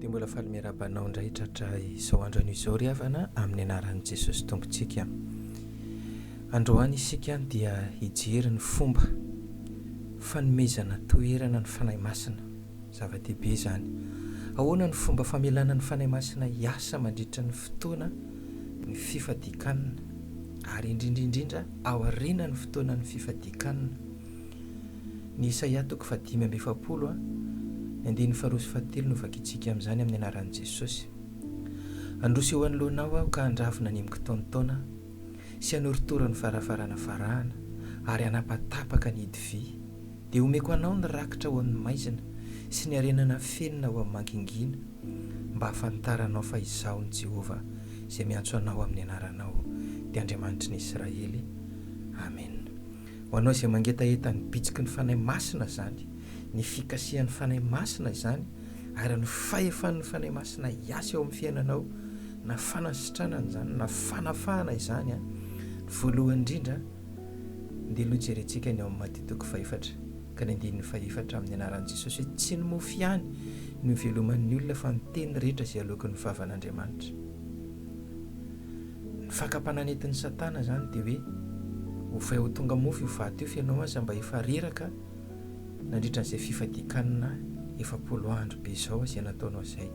dia mbola faly miarahaba anao indray tratra izao andro anio izao ry havana amin'ny anaran'i jesosy tompontsika androany isika dia hijery ny fomba fanomezana toerana ny fanahy masina Zava-dehibe izany. Ahoana no fomba famelana ny Fanahy Masina hiasa mandritra ny fotoana ny fifadikanna ary indrindra indrindra aorianan'ny fotoanan'ny fifadikanna? Ny Isaia toko fahadimy amby efapolo a, ny andininy faharoa sy fahatelo no vakintsika amin'izany amin'ny anaran'i Jesosy. Handroso eo anoloanao aho ka handravona ny mikitaontaona sy hanorotoro ny farafarana farahana ary hanapatapaka ny hidi-vy Dia omeko anao ny rakitra ao amin'ny maizina sy ny harena nafenina ao amin'ny mangingina, mba hahafantaranao fa Izaho ny Jehovah, Izay miantso anao amin'ny anaranao, dia Andriamanitry ny Israely. Amena. Ho anao izay mangetaheta ny bitsiky ny Fanahy Masina izany, ny fikasihan'ny Fanahy Masina izany, ary ny fahefan'ny Fanahy Masina hiasa eo amin'ny fiainanao, na fanasitranana izany, na fanafahana izany, ny voalohany indrindra, Ndeha aloha jerentsika ny ao amin'ny Maty toko fahefatra ka ny andininy fahefatra amin'ny anaran'i Jesosy hoe tsy ny mofo ihany no hiveloman'ny olona fa ny teny rehetra izay aloakin'ny vavan'Andriamanitra. Ny fakam-panahy nentin'i Satana izany dia hoe ovay ho tonga mofo io vato io fa ianao aza mba efa reraka nandritra an'izay fifadian-kanina efapolo andro be izao izay nataonao izay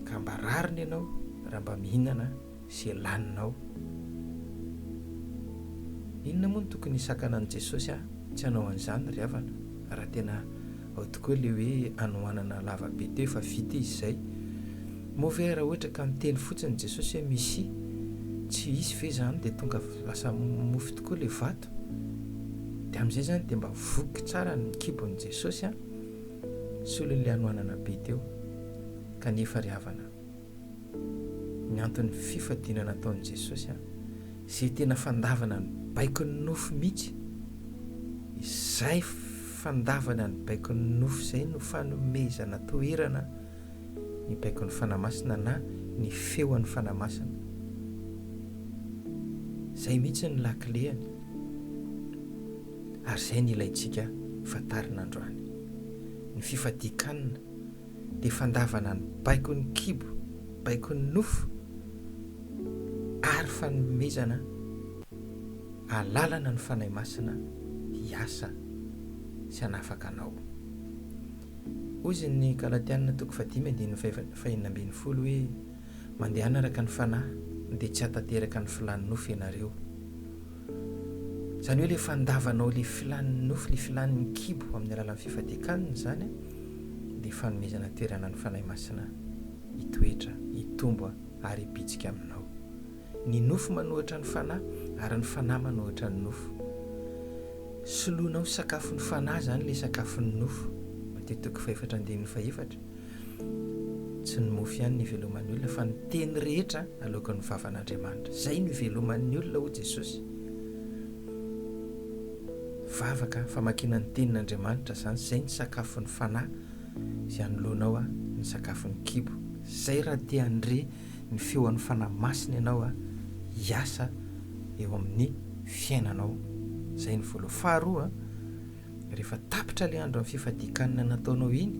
ka mba rariny ianao raha mba mihinana izay laninao. Inona moa no tokony hisakana an'i Jesosy ahy tsy hanao an'izany ry havana? Raha tena ao tokoa ilay hoe hanohanana lava be teo efa vita izy izay. Moa ve raha ohatra ka miteny fotsiny Jesosy hoe Mesia, tsy hisy ve izany dia tonga lasa mofo tokoa ilay vato? Dia amin'izay izany dia mba voky tsara ny kibon'i Jesosy an! Solon'ilay hanohanana be teo kanefa ry havana. ny anton'ny fifadiana nataon'i Jesosy an, izay tena fandavana ny baikon'ny nofo mihitsy. Izay fandavana ny baikon'ny nofo izay no fanomezana toerana ny baikon'ny Fanahy Masina na ny feon'ny Fanahy Masina. Izay mihitsy ny lakileany. Ary izay ny ilaintsika fantarina androany. Ny fifadian-kanina dia fandavana ny baikon'ny kibo, baikon'ny nofo ary fanomezana alalana ny Fanahy Masina hiasa sy hanafaka anao. Hoy izy ny Galatiana toko fahadimy andininy fahenina ambin'ny folo hoe Mandehana araka ny fanahy dia tsy hahatanteraka ny filan'ny nofo ianareo. Izany hoe ilay fandavanao ilay filan'ny nofo, ilay filan'ny kibo amin'ny alalan'ny fifadian-kanina izany dia fanomezana toerana ny Fanahy Masina hitoetra, hitombo ary hibitsika aminao. Ny nofo manohitra ny fanahy ary ny fanahy manohitra ny nofo. Soloina ho sakafon'ny fanahy izany ilay sakafon'ny nofo, Mateteko fahefatra andininy fahefatra. Tsy ny mofo ihany no iveloman'ny olona fa ny teny rehetra aloakan'ny vavan'Andriamanitra. Izay no iveloman'ny olona hoy Jesosy. Vavaka, famakiana ny tenin'Andriamanitra izany, izay ny sakafon'ny fanahy izay anoloanao a, ny sakafon'ny kibo. Izay raha te handre ny feon'ny Fanahy Masina ianao a, hiasa eo amin'ny fiainanao. Izay ny voalohany. Faharoa a. Rehefa tapitra ilay andron'ny fifadian-kanina nataonao iny,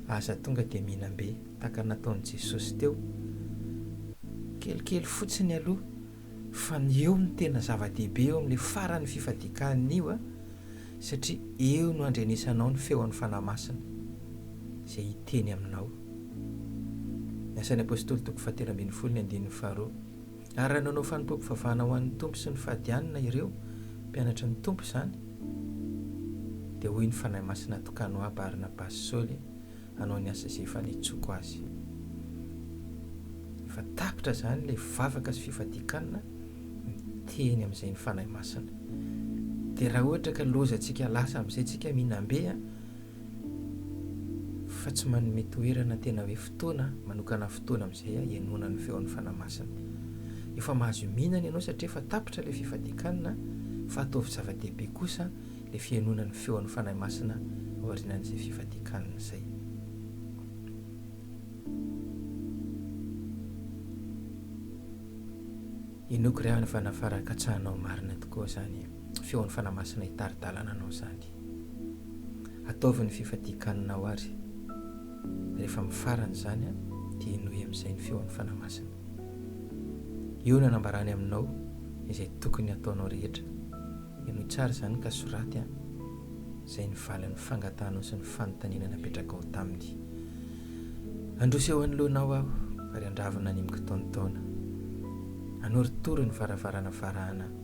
aza tonga dia mihinam-be tahaka ny nataon'i Jesosy teo. Kelikely fotsiny aloha fa ny eo no tena zava-dehibe eo amin'ilay faran'ny fifadian-kanina io, satria eo no andrenesanao ny feon'ny Fanahy Masina izay hiteny aminao. Ny Asan'ny Apostoly toko fahatelo ambin'ny folo ny andininy faharoa. Ary raha nanao fanompoam-pivavahana ho an'ny Tompo sy ny fahadianana ireo mpianatry ny Tompo izany, dia hoy ny Fanahy Masina Tokano ahy Barnabasy Saoly hanao ny asa izay efa nitsoako azy. Efa tapitra izany ilay vavaka sy fifadian-kanina miteny amin'izay ny Fanahy Masina. Dia raha ohatra ka loza antsika lasa amin'izay tsika mihinam-be, fa tsy manome toerana tena hoe fotoana manokana fotoana amin'izay aho hihainoana ny feon'ny Fanahy Masina. Efa mahazo iminana ianao satria efa tapitra ilay fifadian-kanina fa ataovy zava-dehibe kosa ilay fihainoana ny feon'ny Fanahy Masina aorianan'izay fifadian-kanina izay. Inoako ry havana fa raha katsahanao marina tokoa izany. feon'ny Fanahy Masina hitari-dalana anao izany. Ataovy ny fifadian-kaninao ary rehefa mifarana izany dia henoy amin'izay ny feon'ny Fanahy Masina. Eo no hanambarany aminao izay tokony hataonao rehetra. Henoy tsara izany ka soraty izay ny valin'ny fangatahanao sy ny fanontaniana napetrakao taminy. Androso eo anoloanao aho ary andravina ny amin-kitaontaona. Anorotoro ny varavarana varahana.